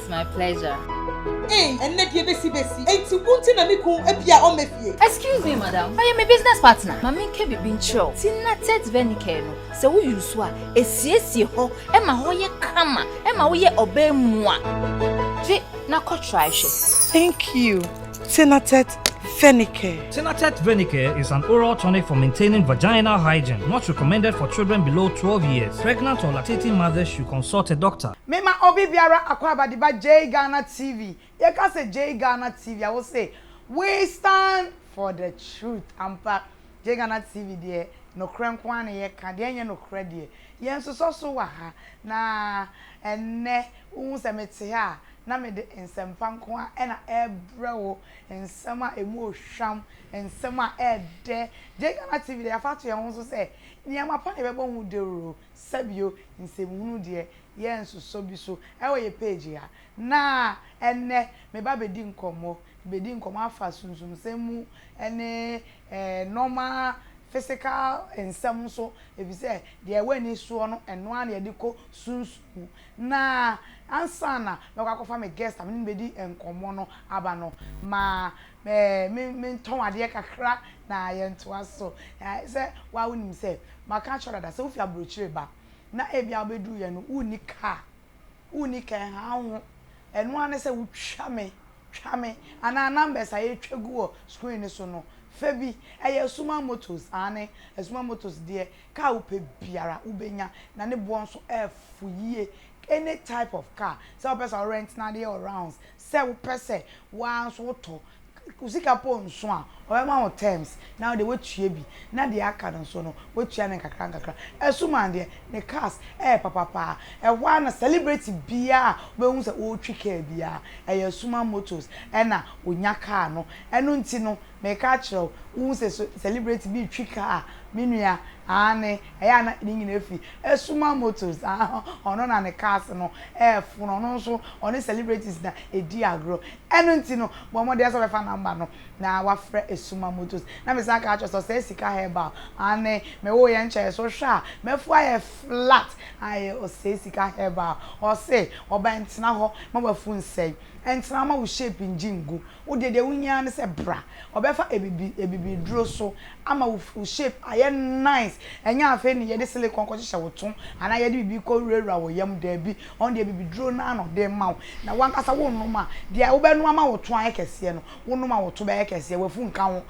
It's my pleasure. Ei, ɛnnɛ deɛ bɛsi bɛsi. Enti wo nti na me kun abi a ɔmmɛ fie? Excuse me, madam. Ɔyɛ me business partner. Ma menka biribi nkyerɛ wo. Tina Tet Venicare no, sɛ wo use a, ɛsiesie hɔ, ɛma hɔ yɛ kama, ɛma woyɛ ɔbaa mu a. Gye na kɔ try hwɛ. Thank you, Tina Tet Venicare. Tina Tet Venicare is an oral tonic for maintaining vaginal hygiene. Not recommended for children below twelve years. Pregnant or lactating mothers should consult a doctor. Me ma obi biara akwaaba de ba Jay Ghana TV yɛ ka sɛ Jay Ghana TV a wo se we stand for the truth ampa Jay Ghana TV deɛ nokorɛ nko ara na yɛ ka deɛ ɛnyɛ nokorɛ deɛ yɛ nsosɔ so wɔ ha na ɛnnɛ wo hu sɛ me te ha a na me de nsɛm pa nko ara ɛna ɛbrɛ wo nsɛm a ɛmu ohwam nsɛm a ɛdɛ Jay Ghana TV deɛ yɛ afa ato yɛn ho so sɛ nneɛma pa na yɛbɛbɔ ho dawuro. Sɛbio, nsɛmhunu deɛ yɛnsosɔ bi so wɔ yɛ page ha, na ɛnnɛ meba bɛdi nkɔmmɔ, bɛdi nkɔmmɔ afa sunsumsɛm mu ne nnoɔma physical nsɛm so, ɛfisɛ deɛ ɛwɔ ani soɔ no ɛno ara na yɛde kɔ sunsum mu. Na ansa na mɛkɔ akɔfa me guest a mene no bɛdi nkɔmmɔ no aba no, ma me me mentɔn adeɛ kakra na yɛntoa so. Ɛ sɛ woa wonim sɛ maka akyerɛ wo dada sɛ wofi aburokyire ba na ebia wobɛduruiɛ no wonni kaa, wonni kaa ɛha wo ho. Ɛno ara ne sɛ wotwa me, twa me anaa numbers a yɛtwa gu wɔ screen no so no fa bi. Ɛyɛ Asuman Motors, aane Asuman Motors deɛ kaa wopɛ biara wobɛnya na ne boɔ nso ɛfo yie. Any type of car, sɛ wopɛ sɛ wo rent no adeɛ wɔ rounds, Sɛ wo pɛ sɛ wo ara nso wo tɔ, wo sika mpo nso a, ɔbɛma wo terms na wo deɛ woatua bi na deɛ aka no nso no woatua no nkakra nkakra. Asuman deɛ ne cars yɛ papa paa, ɛhɔ ara na celebrity biara a wobɛhu sɛ ɔretwi car biara ɛyɛ Asuman motors na ɔnya car no. Ɛno nti no meka akyerɛ wo, wohu sɛ celebrity bi retwi car a, me nua, aane, Ɛyɛ a na ne nyinaa fi Suma Motors a ɔno na ne cars no fono, ɔno nso ɔne celebrities na ɛdi agorɔ. Ɛno nti no, bɔ mmɔden sɛ wobɛfa number no na woafrɛ Suma Motors. Na mesan aka akyerɛ wo sɛ ɔsɛe sika herbal, aane, me wo yɛ nkyɛeɛ so wohwɛ a m'afu ayɛ flat, aye, ɔsɛe sika herbal, ɔse ɔba ntena hɔ ma w'afu nsɛe, ntena hɔ ma wo shape ngye ngu. Wo deɛ deɛ wohia ara ne sɛ bra. Ɔbɛfa abibi abibiduro so ama wo full shape ayɛ nice. Ɛnyɛ afei ne yɛde silicone kɔhyehyɛ wo to anaa yɛde biribi kɔwurawura wo yam, daabi. Ɔno deɛ abibiduro no ara na ɔde rema wo. Na w'ankasa wonom a, deɛ wobɛnom ama wo to ayɛ kɛseɛ no, wonom a wo to bɛyɛ kɛseɛ, w'afu nka ho.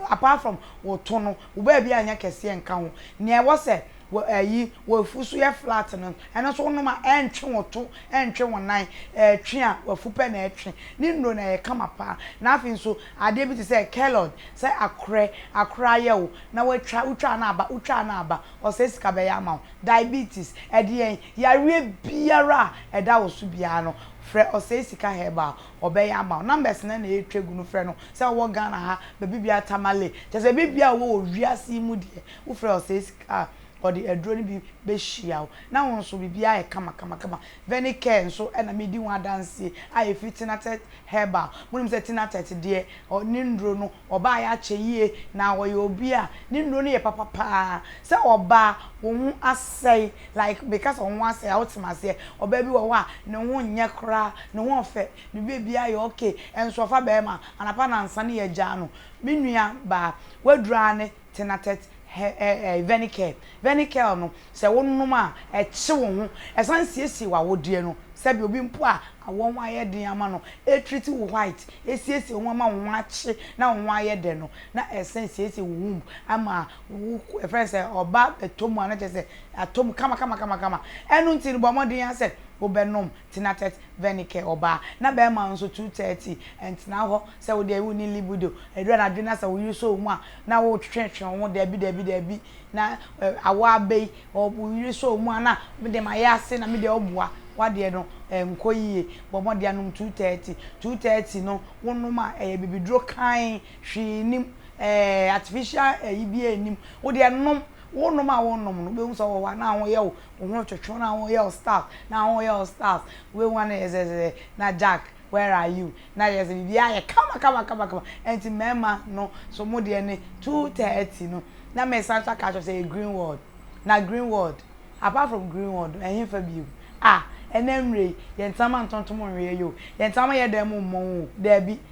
Apart from wo to no, wo baabi anyɛ kɛseɛ nka ho. Nea ɛwɔ sɛ. Wo ayi w'afu so yɛ flat no, ɛno nso wonom a ɛntwe wo to, ɛntwe wo nan, ɛtwe a w'afu pɛ na ɛtwe. Ne nnuro no ɛyɛ kama paa. Na afei nso adeɛ bi te sɛ kelod, sɛ akorɛ, akorɛ ayɛ wo na watwa, wotwaa no aba, wotwaa no aba, ɔsɛe sika bɛyɛ ama wo. Diabetes, ɛdeɛn, yareɛ biara a ɛda wo so biara no, frɛ ɔsɛe sika herbal, ɔbɛyɛ ama wo. Numbers no na ɛretwa gu no, frɛ no, sɛ wowɔ Ghana ha, baabi biara, Tamale, kyerɛ sɛ baabiara a wowɔ wɔ wiase yi mu deɛ, Wofrɛ ɔsɛe sika a, ɔde aduro no bi bɛhyia wo. Na wo nso, biribiara ayɛ kamakamakama. Venicare nso na medi ho adanseɛ a ɛfiri Tinatet Herbal. Monim sɛ Tinatet deɛ, ne nnuro no, ɔbaeɛ akyɛ yie, na ɔyɛ obi a ne nnuro no yɛ papa pa ara. Sɛ ɔbaa, wo ho asɛe, like meka sɛ wo ho asɛe a, wote me aseɛ? Ɔbaa bi wɔ hɔ a, ne ho nyɛ koraa, ne ho ɔfɛ, ne biribiara yɛ okay, nso ɔfa barima a, anapa nnansa no yɛgyaa no. Me nuabaa, woaduru aane? Tinatet hɛ ɛ ɛ Venikel, Venikel no, sɛ wonom a, ɛkye wo ho. Ɛsan siesie w'awodeɛ no. Sɛdeɛ obi mpo a awoɔ ho ayɛ den ama no, ɛtreat wo white, ɛsiesie wo ho ama wo ho akye na wo ho ayɛ dɛ no, na ɛsan siesie wo womb ama wo yɛfrɛ no sɛ ɔba bɛtɔ mu a na kyerɛ sɛ atɔ mu kama kama kama kama. Ɛno nti no, bɔ mmɔden ara sɛ wobɛnom. Tinatet Vennike, ɔbaa, na bɛrima nso, 2:30, Ntena hɔ sɛ wo deɛ wonni libido. Ɛduru anadwo na sɛ wo yere sɔ wo mu a, na wotwetwetwe wo ho, Dabi, dabi, dabi, na awɔ aba yi, wo yere sɔ wo mu a, na me deɛ mayɛ ase, na me deɛ ɔboa, w'adeɛ no nkɔ yie, bɔ mmɔden anom 2:30. 2:30 no, wonom a, ɛyɛ bibiduro kann, hwee nnim, ɛɛ, artificial ayi biara nnim, wo deɛ nom, wonom a wonom no, wobɛhu sɛ wowɔ hɔ a, na ho yɛ wo, Wɔn a wɔtwetwe wɔn a wɔyɛ wo staff na wɔyɛ wo staff wei wɔn ayɛ zɛzɛzɛ na Jack where are you na ayɛ sɛ biribiara ayɛ kama kama kama kama ɛnti mmarima no so mo deɛ ne two thirty no na mesan nso aka akyerɛ sɛ ɛyɛ green ward na green ward apart from green ward no ɛhefa bio ah ɛnɛ mmerɛ yi yɛntena ma ntontom nweɛ yɛ o yɛntena ma yɛdan mu mmɔ ho o daabi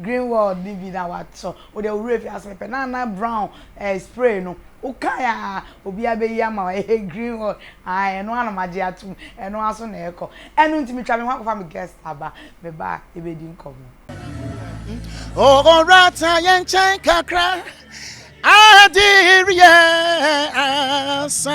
Greenwald no bi na watɔ wo deɛ wo werɛ fi ase pɛpɛ na na brown eh spray no wo kae aa obiaa bɛyi ama wo eh Greenwald aah ɛno ara na magye atom ɛno ara so na ɛkɔ ɛno nti metwa me ho akɔfa me guest aba meba a yɛbɛdi nkɔmmɔ. Ɔwɔ rata yɛn nkyɛn kakra Ade reyɛ asa.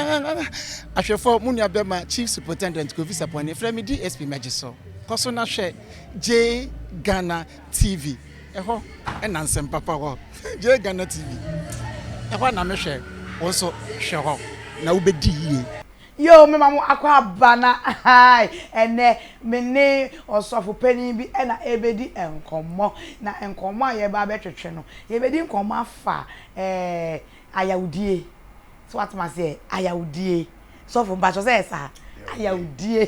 Ahwɛfoɔ mo nua bɛma Chief Superintendent Kofi Sapon frɛ me DSP mɛgye so. Kɔ so na hwɛ JGhana TV. Ɛhɔ na nsɛm papa wɔ. JGhana TV. Ɛhɔ na me hwɛ. Wo nso hwɛ hɔ na wobɛdi yie. Yoo mema mo akɔ aba na ahaai ɛnɛ me ne ɔsɔfo panin bi na ɛrebɛdi nkɔmmɔ na nkɔmmɔ a yɛreba abɛtwetwe no yɛbɛdi nkɔmmɔ afa ɛɛ ayawdie so wate mo aseɛ ayawdie sɔfo mpakyɛ sɛ yɛ saa ayawdie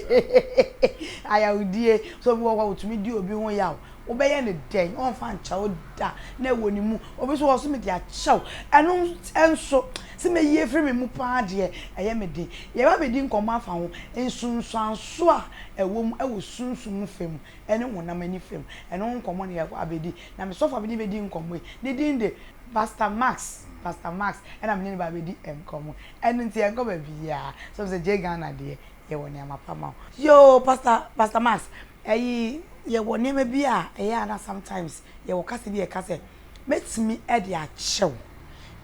ayawdie so bi wɔ hɔ a wɔtumi di obi ho yaw Wobɛyɛ no dɛn? Ɔremfa nkyɛ wo da. Na ɛwɔ ne mu. Obi nso wɔ hɔ, ɔse, Mede akyɛ wo. Ɛno nso, sɛ mɛyi afiri me mu pa ara deɛ, ɛyɛ me den. Yɛreba abɛdi nkɔmmɔ afa ho nsunsuansoɔ a ɛwɔ mu wɔ sunsum fa mu ne honam ani fa mu. Ɛno ho nkɔmmɔ na yɛakɔ abɛdi. Na me sɔfo a me ne bɛdi nkɔmmɔ yi, ne din de Pastor Max. Pastor Max na me ne no ba abɛdi nkɔmmɔ. Ɛno nti, yɛnkɔ baabiara. So wohu sɛ gyee Ghana deɛ? yɛwɔ nneɛma pa ma wo. Yoo pastor pastor Max ɛyi yɛwɔ nneɛma bi a ɛyɛ a na sometimes yɛwɔ kasa bi a ɛka sɛ mɛtumi ɛde akyɛ wo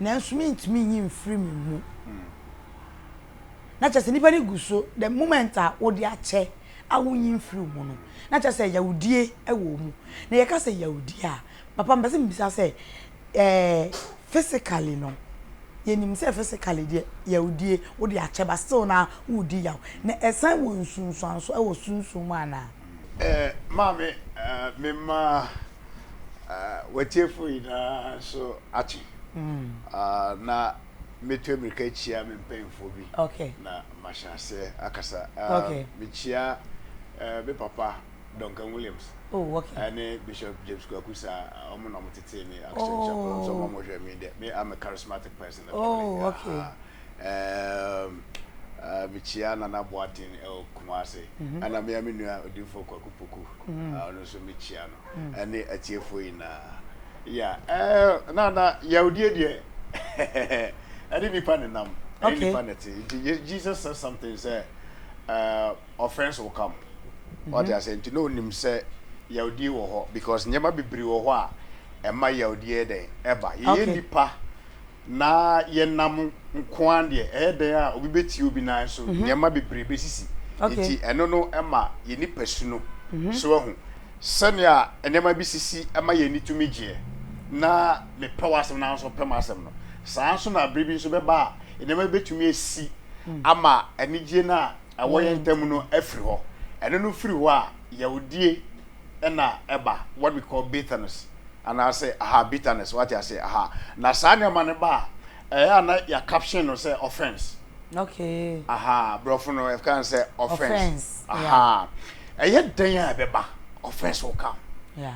nanso mentumi nyi mfiri me mu na kyɛ sɛ nipa no gu so the moment a wode akyɛ a wonyi mfiri wo mu no na kyɛ sɛ yawudie ɛwɔ mu na yɛka sɛ yawudie a papa mpɛ sɛ mbisa sɛ Eh physically no yɛnim sɛ physically deɛ yawdie wode akyɛ but still naa woredi yaw na ɛsan wɔ nsunsuanso wɔ sunsum mu anaa? Eh maame me mma eh watiefoɔ nyinaa nso ate ah na metu amirika kyia me mpanyinfoɔ bi na mahyɛ aseɛ akasa ah mekyia eh me papa Duncan Williams oh, okay. ɛne Bishop James Kwaku saa ɔmo na ɔmo tetee me Action Chapel ɔmo sɛ ɔmo ɔmo hwɛ me dɛ me I'm a charismatic person oh, okay. uh, um, uh, mekyia Nana Boaten ɛwɔ Kumase ɛna mea me nua Odinfo Kwaku Poku ɔno nso mekyia no ɛne atiefoɔ nyinaa ya na na yawdie deɛ ɛne nipa ne nam ɛne nipa ne te Jesus said something sɛ uh, Ɔfɛns wo camp wate aseɛ nti na ɔnim sɛ yawdie wɔ hɔ because nneɛma bebree wɔ hɔ a ɛma yawdie yɛ dɛn ɛba yɛyɛ okay. nipa na yɛnam nkoa deɛ ɛyɛ dɛn a obi bɛtie obi nan so mm -hmm. nneɛma bebree bɛsisi okay. nti ɛno no ɛma yɛ nipa su no mm -hmm. so ahu sɛnea nneɛma bi sisi ɛma yɛn ani tumi gyeɛ na mepɛ w'asɛm na nso pɛ m'asɛm no saa nso na bere bi nso bɛba a nneɛma bɛtumi asi mm. ama anigyeɛ no a ɛwɔ yɛn ntam no afiri hɔ. Ɛno no firi hɔ a, yawdie na ɛba, what we call bitterness, anaase aha, bitterness, wate aseɛ, aha. Na saa nneɛma no ba a, ɛyɛ a na yɛ caption no sɛ offense. Okay. Aha, borɔfo no ɛka no sɛ offense. Offense, yeah. Aha. Ɛyɛ dɛn a ɛbɛba, offense will come. Yeah.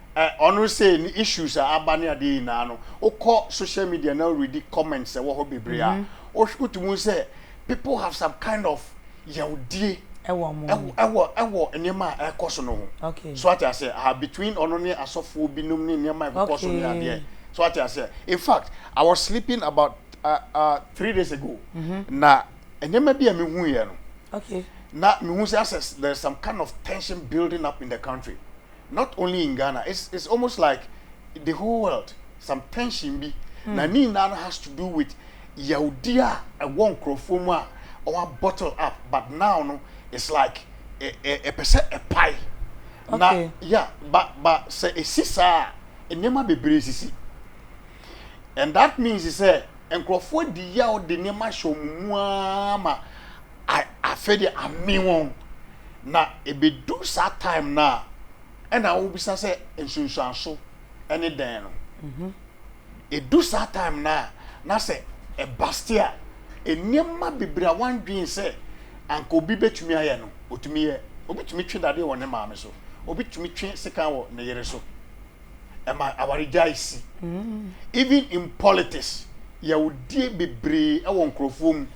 Ɔno sei ne issues a aba ne adeɛ nyinaa no wokɔ social media na woredi comments ɛwɔ hɔ bebree a wotumi hu sɛ people have some kind of yawdie ɛwɔ nneɛma a ɛkɔ so no ho so ate aseɛ aha between ɔno ne asɔfoɔ binom ne nneɛma a ɛkokɔ so ne adeɛ so ate aseɛ in fact I was sleeping about uh, uh, three days ago na nneɛma bi a mehuiɛ no na mehu sɛ asɛ there's some kind of tension building up in the country not only in Ghana it's it's almost like the whole world some tension bi mm. na ne nyinaa no has to do with yawudi a ɛwɔ nkurɔfoɔ mu a ɔwa bottle up but now no it's like ɛpɛ sɛ ɛpae na ya ba ba sɛ ɛsi saa nneɛma bebree sisi and that means sɛ nkurɔfoɔ di yaw de nneɛma hyɛ wɔn mu ara ma. afei deɛ amen wɔn, na ɛbɛdu saa time no a ɛna wobisa sɛ nsunsuanso ne dɛn no, ɛdu saa time no a na sɛ ɛbaste a nneɛma bebree a woandwen sɛ anka obi bɛtumi ayɛ no, ɔtumi yɛ. Obi tumi twe dadeɛ wɔ ne maame so, obi tumi twe sekan wɔ ne yere so. ɛma awaregyae si. Even in politics, yawdie bebree ɛwɔ nkorɔfoɔ mu.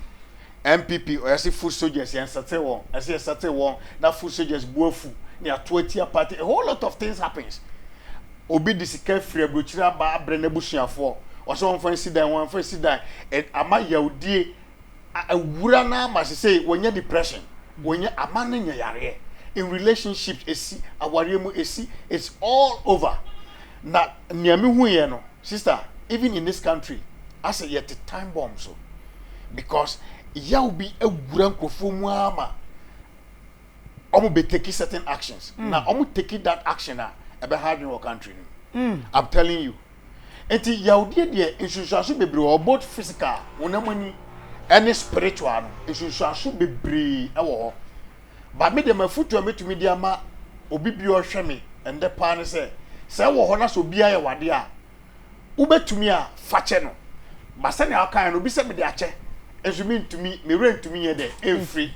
NPP ɔyɛ se foot soldiers yɛn settle wɔn, ɛse yɛ settle wɔn na foot soldiers bu afu na yato atia party, a whole lot of things happens. Obi de sika firi abrokyire aba abrɛ n'abusuafoɔ, ɔse wɔmfa nsi dan, wɔmfa nsi dan, ama yawdie Awura no ara ma sesei wɔnya depression, wɔnya amanne nya yareɛ, in relationships ɛsi, awareɛ mu ɛsi, it's all over. Na nea me huiɛ no sister even in this country asɛ yɛte time bomb so because yaw bi awura nkurɔfoɔ mu ara ma wɔn bɛ take certain actions na wɔn take that action a ɛbɛha adwene wɔ country no mu. I'm telling you. Enti yawdeɛ deɛ nsunsuanso bebree wɔ hɔ both physical, honam ani, ɛne spiritual no nsunsuanso bebree ɛwɔ hɔ. Ba me deɛ m'afutuo a mɛtumi de ama obi bi a ɔhwɛ me ɛndɛ paa ne sɛ, sɛ ɛwɔ hɔ na sɛ obi ayɛ wadeɛ a, wobɛtumi a fakyɛ no. Ba sɛnea wokaeɛ no obi sɛ mede akyɛ nso mentumi, me werɛ ntumi nyɛ dɛ ɛmfiri.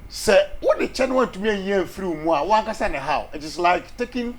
Sɛ wode kyɛ na wantumi anyi amfiri wo mu a, wo ankasa na ɛhaw. It is like taking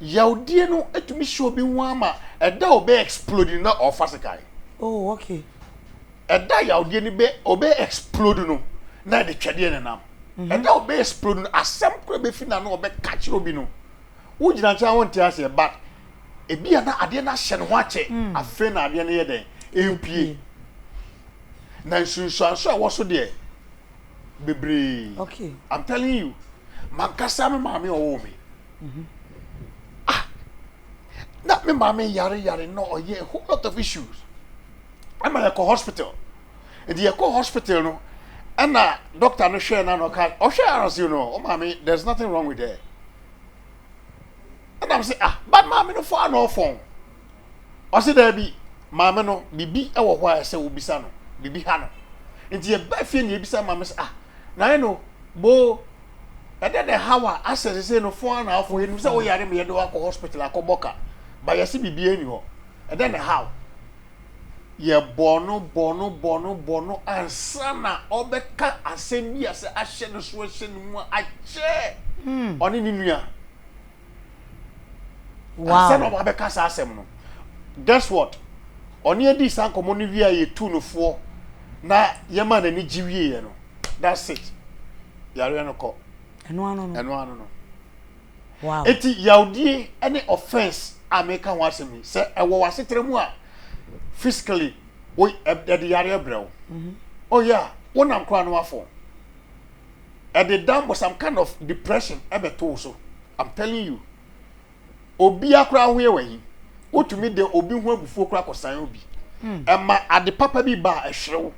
Yawdie no tumi hyɛ obi ho ara ma ɛda a ɔbɛ explode no na ɔfa sekan. Oh okay. Ɛda a yawdie no bɛ ɔbɛ explode no na ɛde twɛdeɛ na nam. Mhm. Ɛda a ɔbɛ explode no asɛm koro bɛfi na no ɔbɛ ka kyerɛ obi no. Wo gyina nkyɛn a wonte aseɛ but ebi a na adeɛ no ahyɛ ne ho akyɛ mm. afei na adeɛ no yɛ dɛn ɛmpie. Na nsunsuanso a ɛwɔ so deɛ bebree okay i'm telling you mankasa me maame ɔwɔ me mhm. ah na me maame yare yare na ɔyɛ a whole lot of issues ɛma yɛkɔ hospital nti yɛkɔ hospital no ɛna doctor no hwɛ na na ɔka ɔhwɛ arase no ɔma oh, me there's nothing wrong with her ɛna m sɛ ah but maame no fɔ ana ɔfɔn. Ɔse daabi, maame no, biribi wɔ hɔ a ɛsɛ wobisa no, biribi ha no. Nti yɛba fie na yɛbisa maame sɛ, ah, nae no, boo, ɛdɛ na ɛhaw a asɛ sesei no fɔn na afɔ, yɛnim sɛ woyare ma yɛde wakɔ hospital akɔbɔ ka, ba yɛse biribiara ni hɔ, ɛdɛ na ɛhaw. Yɛbɔɔ no, bɔɔ no, bɔɔ no, bɔɔ no ansa na ɔbɛka asɛm bi a sɛ ahyɛ ne so, ahyɛ ne mu a, akyɛ ɔne ne nua. Ansa na wɔabɛka saa asɛm no, guess what? Ɔne yɛn dii saa nkɔmmɔ no wie a yɛtuu no foɔ na yɛmaa n'ani gye wieeɛ no, that's it. Yareɛ no kɔ. Ɛno ano no. Ɛno ano no. Wow. Eti yawdie ne offense a meka ho asɛm yi sɛ ɛwɔ w'asetra mu a physically wo ɛde yareɛ brɛ wo. Mm-hmm. Oh yeah, wonam koraa no afɔ. ɛde dan bɔ some kind of depression ɛbɛto so i'm telling you obiara koraa ahoyɛ wɔ ahi wotumi de obi ho abufuo koraa kɔsan obi hmm. ɛma ade papa bi ba a ɛhwere wo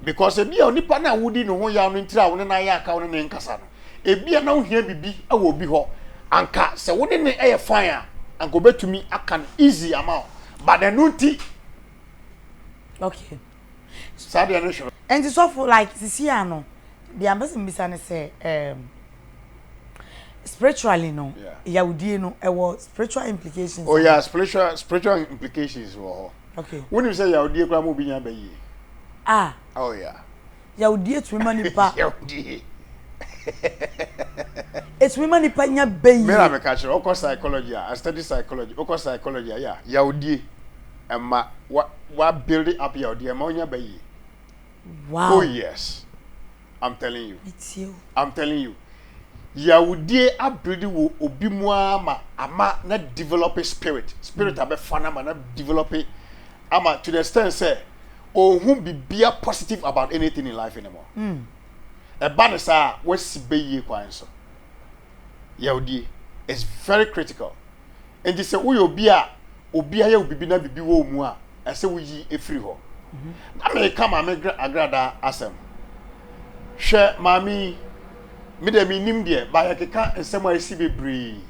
because ebi a onipa no a wodi ne ho yaw no ntira a wo ne no ayɛ aka wo ne ne nkasa no ebi a na wohia biribi wɔ obi hɔ anka sɛ wo ne ne yɛ fan a anka obetumi aka no easy ama wo but ɛno nti okay saa deɛ no hwɛ. Ɛnti sɔfo like sisi a no deɛ mpɛ sɛ mbisa ne sɛ um, spiritually no yawdie no ɛwɔ spiritual implications. Oh yeah, spiritual spiritual implications wɔ hɔ. Okay. Wonim sɛ yawdie koraa ma obi nya ba yie. Ah. Oh yeah. Yawdie tumi ma nipa. Yawdie. Etumi ma nipa nya bɛyi. Mera meka kyerɛ ɔkɔ psychology a, I study psychology, ɔkɔ psychology a, yeah, yawdie ɛma wa wa build up yawdie ɛma ɔnya bɛyi. Wow. Oh yes, I'm telling you. I'm telling you. Yawdie abuild wo obi mu ama ama na develop spirit, spirit mm. abɛfa na ama na develop ama to the extent sɛ ɔnhu bibia positive about anything in life anymore mm. ɛba ne saa a wasi bɛyie kwan so yɛwdie is very critical nti sɛ woyɛ obi a obi ayɛ wo bibi na bibi wɔ mu a ɛsɛ woyi ɛfiri hɔ mhm. na meka maame agrada asɛm hwɛ maame me deɛ menim deɛ baayɛ keka nsɛm a ɛsi bebree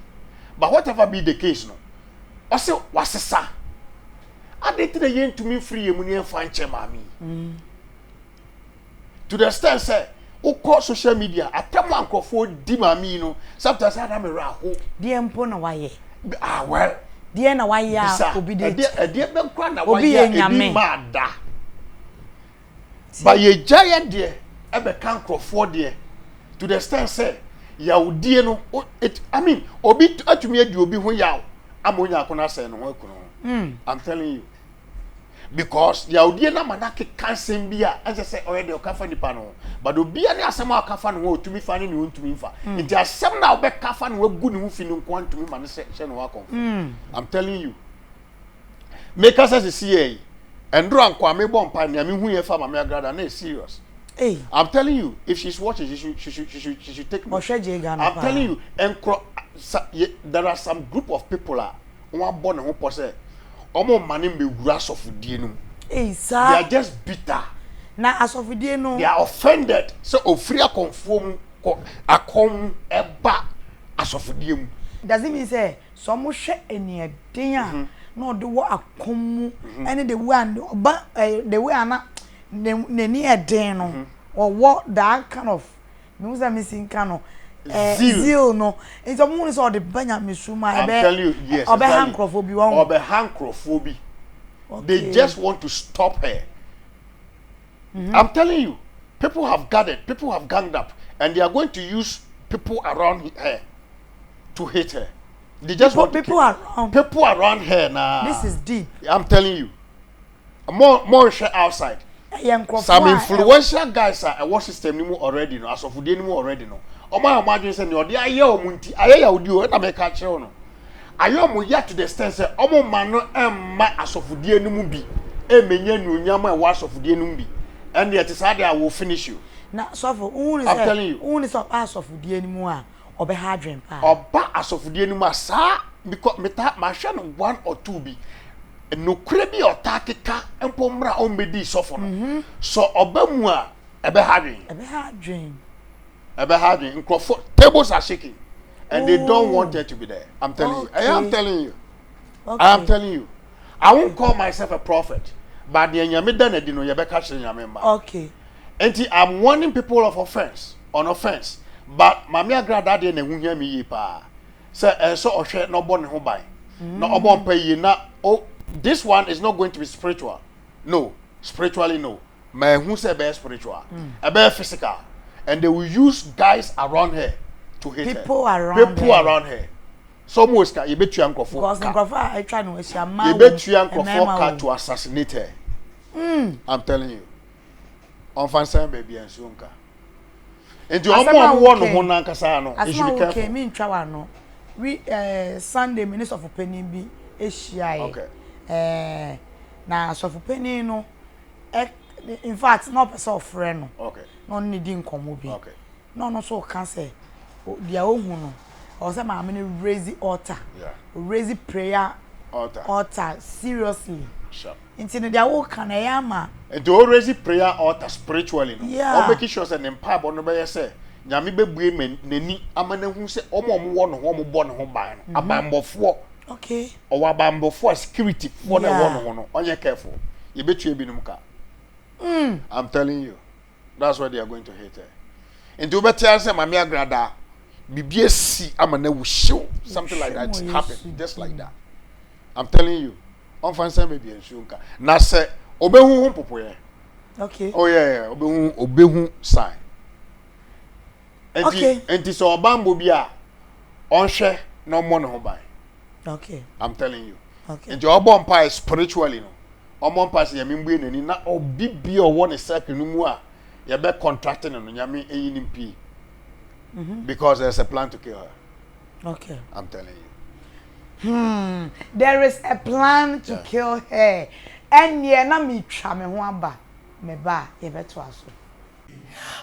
but whatever be the case no ɔsɛ wasesa adɛn nti na yɛntumi mfiri yɛn mu ne yɛmfa nkyɛ maame yi to the extent sɛ wokɔ social media atɛm a nkurɔfoɔ di maame yi no sometimes ana me werɛ aho deɛ mpo na wayɛ ah well deɛ na wayɛ a obi de ɛdeɛ bɛnkora na wayɛ a ebi maa da ba yɛgya yɛ deɛ ɛbɛka nkurɔfoɔ deɛ to the extent sɛ yawdie no i mean obi atumi adi obi ho yaw ama onya akono asɛe ne ho akunu ho hmm. i'm telling you because yawdie no ama no akeka nsɛm bi a ɛnsɛ sɛ ɔyɛ deɛ ɔka fa nipa no ho but obia ne asɛm a ɔka fa ne ho ɔtumi fa ne ne ɔntumi mfa hmm. nti asɛm na wobɛka fa ne wagu ne ho fi no nkoa ntumi ma no hyɛ ne ho akɔmfo hmm. i'm telling you Me kasa sisi yɛ yi, ɛndoro anko a mebɔ mpa nea me hu yɛ fa Mame Agrada na yɛ serious. Hey. I'm telling you, if she's watching, she should, she should, she should, she should take note. Ɔhwɛ gye Ghana I'm telling you, nkro, sa, ye, there are some group of people a, wɔn abɔ ne ho pɔ sɛ, wɔn mma ne mmewura asɔfodie no mu. Hey, sir. They are just bitter. Na asɔfodie no. They are offended sɛ ofiri akɔnfoɔ mu kɔ akɔn mu ɛba asɔfodie mu. Does it mean sɛ Sɛ wɔhwɛ aniɛden a na ɔde wɔ akɔm mu ne the way a ɔba eh, the way a na n'ani yɛ den no, ɔwɔ that kind of mehu sɛ mesi nka no eh, Zeal. zeal no nti wɔn hu no sɛ ɔde ba nyamesu mu a I'm ɛbɛ telling you, yes, ɔbɛha exactly. nkurɔfoɔ bi wɔn Ɔbɛha nkurɔfoɔ bi. They Okay. just want to stop her. I'm telling you, people have gathered, people have ganged up, and they are going to use people around he- her. to hate her. They just people, want to people kill. around. People around her now. This is deep. I'm telling you. More more share outside. Some influential guys are what system ni mu already no asɔfodie ni mu already no. Ɔmo a ɔmo adwene sɛ nea ɔde ayɛ ɔmo nti ayɛ yɛ odi o ɛna mɛ ka kyerɛ no. Ayɛ ɔmo yɛ to the extent sɛ ɔmo ma no ɛmma asɔfodie ni mu bi ɛmɛ nyɛ nuonyam ɛwɔ asɔfodie ni mu bi. Ɛnna ɛte saa de a will finish you. Na sɔfo, ohun ni sɛ ohun ni sɛ ɔba asɔfodie ni mu a. ɔbɛha adwen paa. Ɔba asɔfodie no mu a saa bikɔ metaa mahwɛ no one or two bi nokorɛ bi a ɔtaa keka mpo mmra ɔmmɛdii sɔfo no sɔ ɔba mu a ɛbɛha adwen. Ɛbɛha adwen. Ɛbɛha adwen nkorɔfo tables are shaking and they don't want her to be there I'm telling you ɛyɛ I'm telling you I'm telling you I won't call myself a prophet but deɛ nyame da no adi no yɛbɛka kyerɛ nyame mma. Nti I'm warning people of offence on offence but Maame Agrada deɛ na ɛho hia me yie paa sɛ ɛsɛ sɛ ɔhwɛ na ɔbɔ ne ho ban na ɔbɔ mpa yie na oh this one is not going to be spiritual no spiritually no ma ɛhu sɛ ɛbɛyɛ spiritual mm. ɛbɛyɛ physical and they will use guys around her to hit people her around people her. around her so ɔmo sika yɛbɛtua nkurɔfoɔ ka nkurɔfoɔ a atwa no ahyia mmaa wɔ yɛbɛtua nkurɔfoɔ ka to assassinate her mm. I'm telling you ɔmfa nsan baabi a nsuo nka nti wɔn a wɔwɔ ne ho nankasa no they should be careful. asɛm a mi ntwa wa no wi ɛɛ eh, sunday mi ne sɔfo panyin bi ehyia yɛ ɛɛ eh, na sɔfo panyin no ɛ eh, in fact na ɔpɛ sɛ ɔfrɛ no na ɔne ne di nkɔmɔ bi na ɔno nso reka sɛ deɛ ɔhu no ɔwɔ sɛ maame no raise altar raise prayer altar seriously nti no deɛ woka no ɛyɛ ama nti o raise prayer altar spiritually no wɔn make sure sɛ ne mpaebɔ no bɛyɛ sɛ nyame bɛbue n'ani ama no ahu sɛ wɔn a wɔwɔ ne ho wɔn bɔ ne ho ban no abanbɔfoɔ okay ɔwɔ abanbɔfoɔ a security foɔ na ɛwɔ ne ho no ɔnyɛ careful yɛbɛtua binom ka mm. i'm telling you that's where they are going to hate her nti wobɛte ara sɛ maame agrada biribi asi ama no awu hyew something like that happen just like that i'm telling you ɔmfa nsɛm baabi nsuo nka na sɛ ɔbɛhu ho mpopoeɛ okay oh yeah yeah ɔbɛhu ɔbɛhu sign Nti Okay. nti sɛ ɔbanbɔ bi a ɔnhwɛ na ɔmmɔ ne ho ban. Okay. I'm telling you. Okay. Nti ɔbɔ mpae spiritually no. Ɔmmɔ mpae sɛ Nyame mbue n'ani na obi bi a ɔwɔ ne circle no mu a yɛbɛ contract no no Nyame nyi no mpue. Because there's a plan to kill her. Okay. I'm telling you. Hmm. There is a plan to Yeah. kill her. Ɛnneɛ na metwa me ho aba. Meba a yɛbɛtoa so.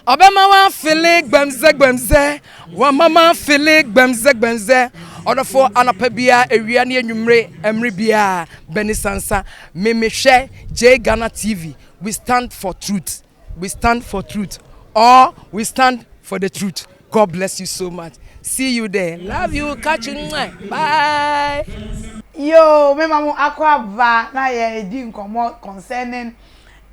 Ɔbɛma w'afele gbɛmzɛ gbɛmzɛ, wama m'afele gbɛmzɛ gbɛmzɛ. Ɔdɔfo anɔpa bia awia ne anwummere ɛmere bia bɛni sansa me me hwɛ Jay Ghana TV we stand for truth we stand for truth or we stand for the truth God bless you so much see you there love you catch you mwah bye. Yoo, mema mo akɔ aba na yɛ di nkɔmmɔ concerning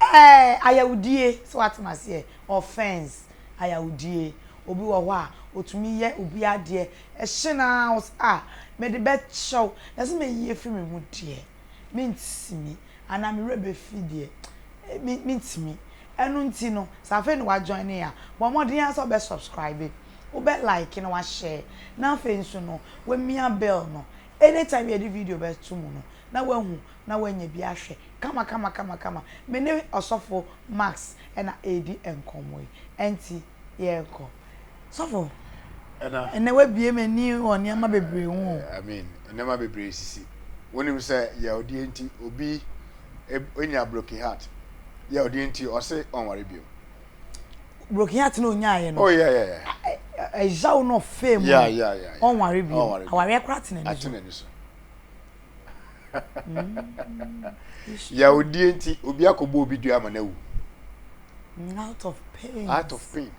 Ɛɛɛ ayawdie, sɛ w'ate m'aseɛ, offence, ayawdie. Obi wɔ hɔ a, otumi yɛ obi adeɛ, ɛhye no ara wo sɛ ah, mede bɛkyɛ wo, na sɛ mɛyi afiri me ho deɛ, mentumi, anaa me werɛ bɛfi deɛ, me, mentumi. Ɛno nti no, sɛ afei na wa join yɛn a, bɔ mmɔden ara sɛ wobɛ subscribe, wobɛ like na wa share, na afei nso no, wamia bell no, anytime yɛde video bɛto mu no, na wahu na woanya bi ahwɛ kamakamakamakama. Me ne Ɔsɔfo Max na ɛredi nkɔmmɔ yi, ɛnti yɛnkɔ. Sɔfo, ɛnnɛ woabue m'ani wɔ nneɛma bebree ho o. Amen, nneɛma bebree sisi. Wonim sɛ yaodie nti obi nya broken heart, yaodie nti ɔse ɔnware bio. Broken heart na ɔnyaaeɛ no? Oh yeah yeah yeah. Ɛyaw na ɔfaa mu no, ɔnware bio, awareɛ koraa te n'ani so. yawudie nti obi akɔbɔ obi dua ama no awu mm, out of pain out of pain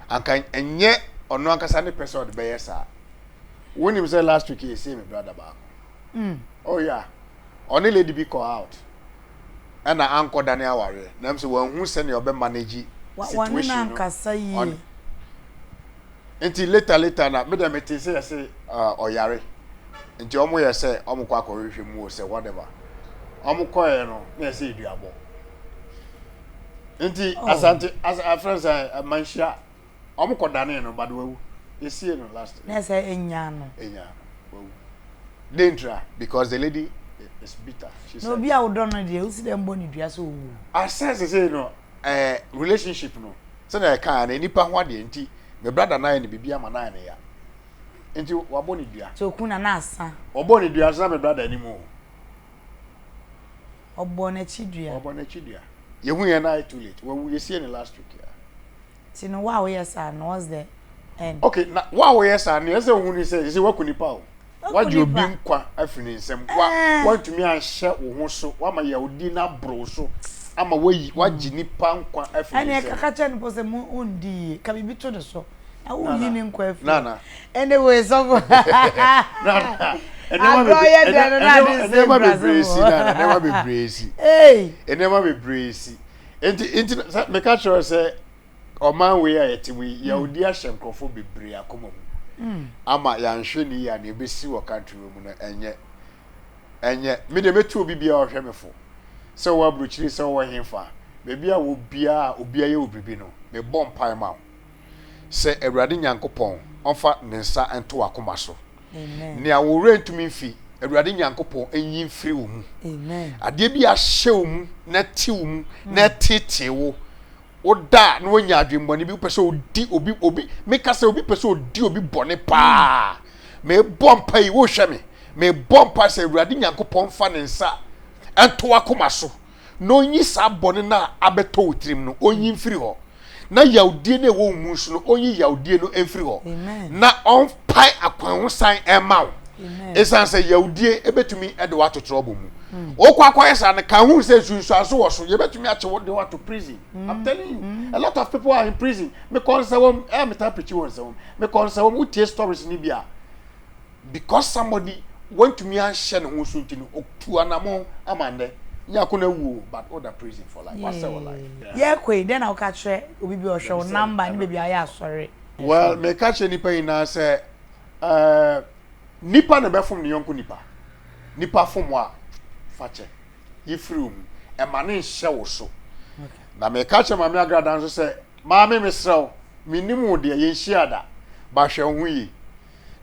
anka ɛnyɛ ɔno ankasa ne pɛ sɛ ɔde bɛyɛ saa wonim sɛ last week yɛsie me brada baako mm. oh yeah ɔne lady bi kɔ out ɛna ankɔ dane awareɛ nam sɛ wanhu sɛnea ɔbɛ manage situation no Nti later later na me dɛ me tee sɛ yɛse ah ɔyare nti ɔmo yɛ sɛ ɔmo kɔ akɔ hwehwɛ mu o sɛ whatever ɔmo kɔɛ no na yɛ sɛ eduabɔ nti oh. asante as a friend sɛ eh, manhyia ɔmo kɔ danee no bade wawu yɛsie no last na sɛ enya no enya no wawu dentra because the lady is bitter she said na obi a wodɔ no deɛ wosi dɛ mbɔ ne dua sɛ ɔwu asɛ sɛ sɛ no eh relationship no sɛnea ɛkaa no nipa ho adeɛ nti me brada no ayɛ no biribi ama no ayɛ no ya nti wabɔ ne dua. So okun na na asa. Ɔbɔɔ ne dua nso na me brada anim o. Ɔbɔɔ n'akyi dua. Ɔbɔɔ n'akyi dua. Yɛhu yɛ na ayɛ too late. Wawu yɛsiee no last week ya. Ti no wa woyɛ saa no what's the end. Ok na wa woyɛ saa no ɛsɛ ohun ni sɛ ɛsɛ waku nipa o. Wagye obi nkwa afiri ne nsam wa wantumi anhyɛ wo ho so wama yawdi no aboro wo so ama wayi wagye nipa nkwa afiri ne nsam. Ɛnna ɛkaka kyɛ no po sɛ mo ondi yie ka biribi to ne so na woyi ne nkwa afiri. Nana. Ɛnna wei sɔfo. Nana. Agorɔ yɛ dɛ no na adi nsɛm brasem o. Nneɛma bebree si nana nneɛma bebree si. Ee. Nneɛma bebree si. Nti, nti sɛ meka kyerɛ sɛ ɔman wei a yɛte mu yi, yɛwodi ahyɛ nkurɔfoɔ bebree akoma mu hmm. ama yɛanhwɛ ne yie a na ɛbɛsi wɔ country wei mu no ɛnyɛ ɛnyɛ me deɛ mɛtu obi biara ɔhwɛ me fo sɛ wɔwɔ aburokyiri sɛ wɔwɔ hefa baabi a wɔbiara obiara yɛ wɔ biribi no mebɔ mpae ma wo sɛ Awurade Nyankopɔn ɔmfa ne nsa nto w'akoma so. Nea wo werɛ ntumi mfi, Awurade Nyankopɔn nyi mfiri wo mu. Adeɛ bi a ahyɛ wo mu, na ati wo mu, na ateetee wo, woda a na woanya adwemmɔne bi, wopɛ sɛ odi obi, obi, meka sɛ obi pɛ sɛ odi obi bɔne paa. Mebɔ mpa yi, wohwɛ me, mebɔ mpa sɛ Awurade Nyankopɔn mfa ne nsa nto w'akoma so. na ɔnyi saa bɔne no a abɛtɔ wo tirim no, ɔnyi mfiri hɔ, na yawdie no a ɛwɔ wo mu nso no, ɔnyi yawdie no mfiri hɔ, na ɔmpae akwan ho san mma wo, ɛsiane sɛ yawdie ɛbɛtumi de woato trɔbɔ mu. Mm. Wokɔ akɔyɛ saa no, ka ho sɛ nsunsuanso wɔ so, yɛbɛtumi akye wo de woato prison. Mm. I'm telling you, mm. a lot of people are in prison. Mekɔ nsɛwam, ɛyɛ metaa pikyi wɔ nsɛwam. Mekɔ nsɛwam, wotie stories no bi a, because somebody wantumi anhyɛ ne ho so nti no otu anamɔn ama nnɛ nyako na awu o but oda prison for life wasɛ wɔ life. Yɛkɔ yi dɛn na woka kyerɛ obi bi ɔhwɛ wo number ne baabi a woyɛ asɔre. Well meka kyerɛ nnipa nyinaa sɛ eh, nnipa na ɛbɛfom ne yɔnko nnipa, nnipa fom wo a fa kyɛ yi firi wo mu ɛma ne nhyɛ wo so na meka kyerɛ Maame Agrada nso sɛ Maame mesrɛ wo mennim wo deɛ yɛnhyiaa da but hwɛ wo ho yie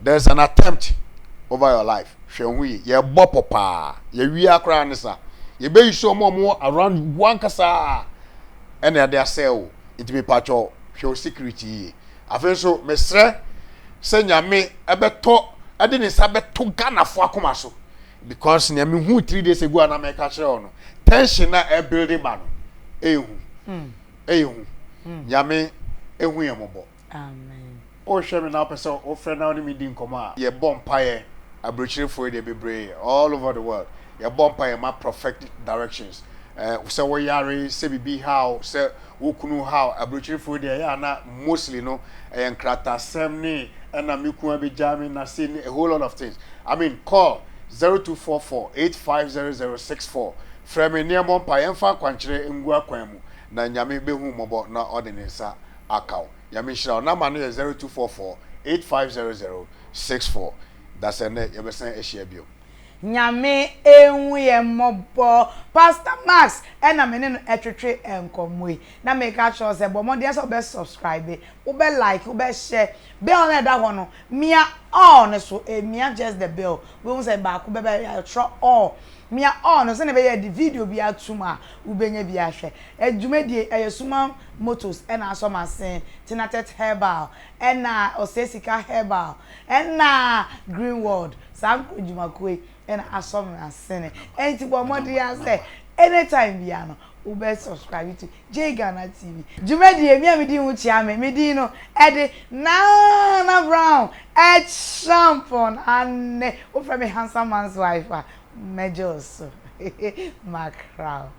there is an attempt over your life hwɛ wo ho yie yɛbɔ pɔ paa yɛwia koraa ne sa yɛbɛyi so ɔmo ɔmo around wo ankasa ɛna ɛde asɛe wo nti mepatwɔ hwɛ wo security yie afei nso mesrɛ sɛ nyame ɛbɛtɔ ɛde ne nsa bɛto Ghanafo akoma so because nea mehu three days ago a na mɛka kyerɛ wo no tension na ɛbuilde ba no ɛyɛ hu ɛyɛ hu nyame ɛhu yɛ mɔbɔ Amen. Wohwɛ me na wopɛ sɛ wofrɛ na wo ne me di nkɔmmɔ a, yɛbɔ mpaeɛ. Aburokyirefo yi deɛ bebree all over the world. Yɛbɔ mpaeɛ, yɛma prophetic directions. Eh, sɛ wo yare, sɛ biribi ha wo, sɛ wo kunu ha wo. Aburokyirefo yi deɛ ɛyɛ a na mostly no ɛyɛ nkratasɛm ne ɛna me kunu abɛgyaa me na sei ne a whole lot of things. I mean call zero two four four eight five zero zero six four. Frɛ me na yɛmmɔ mpaeɛ mfa akwankyerɛ ngu akwan mu na Nyame bɛhu wo mmɔbɔ na ɔde ne nsa aka wo. Nyame nhyira wo. Number no yɛ zero two four four eight five zero zero six four. Dasɛnɛ yɛbɛsan ahyia biom. Nyame nhu yɛn mmɔbɔ. Pastor Max na me ne no ɛtwetwe nkɔmmɔ yi. Na meka kyerɛ wo sɛ bɔ mmɔden ara sɛ wobɛ subscribe, wobɛ like, wobɛ share. Bell no a ɛda hɔ no, mia ɔɔ no so, eh, mia just the bell. Wobɛhu sɛ baako bɛba a, yɛatwerɛ ɔɔ. Mia ɔɔ no sɛdeɛ ɛbɛyɛ a yɛde video bi atom a wobɛnya bi ahwɛ. Eh, dwumadie yi, ɛyɛ Suman Motors na asɔ masin, Tinatex Herbal, ɛna Ɔsɛesika Herbal, ɛna Greenworld, saa nkuradwumakuo yi. na asɔ me asene enti bɔ mmɔden ara sɛ anytime biara no wobɛ subscribe to Jay Ghana TV. Dwumadie, me a medi ho kyia me, me din no de Nana Brown Acheampong Anne, wofrɛ me Handsome Man's Wife a, mɛgye wo so, Mackerel.